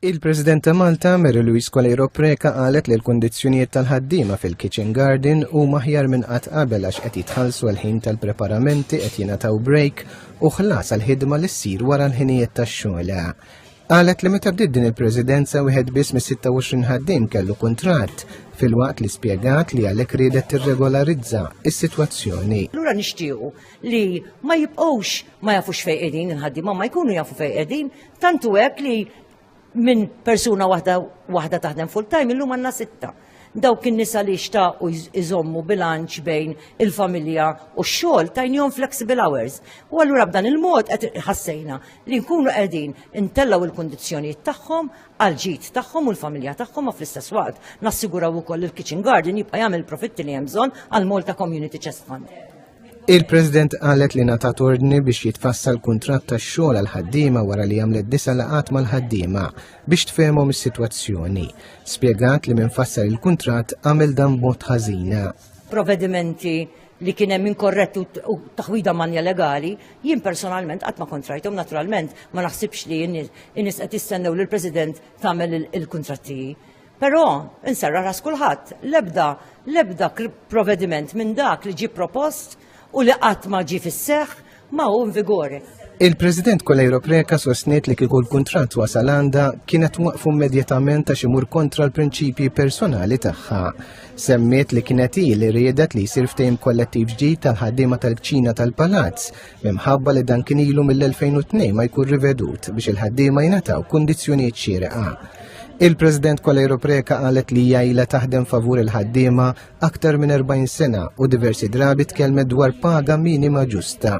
Il-President ta' Malta, Mary Louise Coleiro Preca, qalet li l-kundizzjonijiet tal-ħaddiema fil-Kitchen Garden u maħjar minn qatt qabel għax qed jitħallsu l-ħin tal-preparamenti qed jingħataw break u ħlas għall-ħidma li ssir wara l-ħinijiet tax-xogħol. Qalet li meta bdiet din il-Presidenza wieħed biss mis-26 ħaddiem kellu kuntratt filwaqt li spjegat li għalhekk riedet tirregolarizza is-sitwazzjoni. Lura nixtiequ li ma jibqgħux ma jafux fejn qegħdin il-ħaddiema ma jkunu jafu fejn qegħdin Tantu hekk li minn persuna waħda waħda taħdem full time illum għandna sitta. Dawk in-nisa li xtaqu jżommu bilanċ bejn il-familja u x-xogħol tajnihom flexible hours. U allura b'dan il-mod qed ħassejna li nkunu qegħdin intellgħu l-kundizzjonijiet tagħhom għal ġid tagħhom u l-familja tagħhom ma fl-istess waqt nassiguraw ukoll il-kitchen garden jibqa' jagħmel profitti li hemm bżonn għal Malta Community Chest Fund. Il-President qalet li natat ordni biex jitfassal kuntratt ta' xogħol għal ħaddiema wara li għamlet disa laqat mal-ħaddiema biex tfehmhom is-sitwazzjoni. Spjegat li minn fassal il-kuntratt għamel dan bot ħażina. Provvedimenti li kien hemm inkorrett u taħwida manja legali, jien personalment qatt ma kontrajthom naturalment ma naħsibx li n-nies qed jistennew li l-President tagħmel il-kuntrattiji. Però, inserraħ ras kulħadd, l-ebda l-ebda provvediment minn dak li ġie propost u li qatt ma ġie fis-seħħ ma hu vigore. Il-President Kolejro Preka sostniet li kieku l-kuntratt wasal għandha kienet waqfu immedjatament għax imur kontra l-prinċipji personali tagħha. Semmiet li kienet hi li riedet li jsir ftehim kollettiv ġdid tal-ħaddiema tal-kċina tal-palazz minħabba li dan kien ilu mill-2002 ma jkun rivedut biex il-ħaddiema jingħataw kundizzjonijiet xierqa. Il-President Kolejro Preka qalet li jajla taħdem favur il-ħaddiema aktar minn 40 sena u diversi drabi tkellmet dwar paga minima ġusta.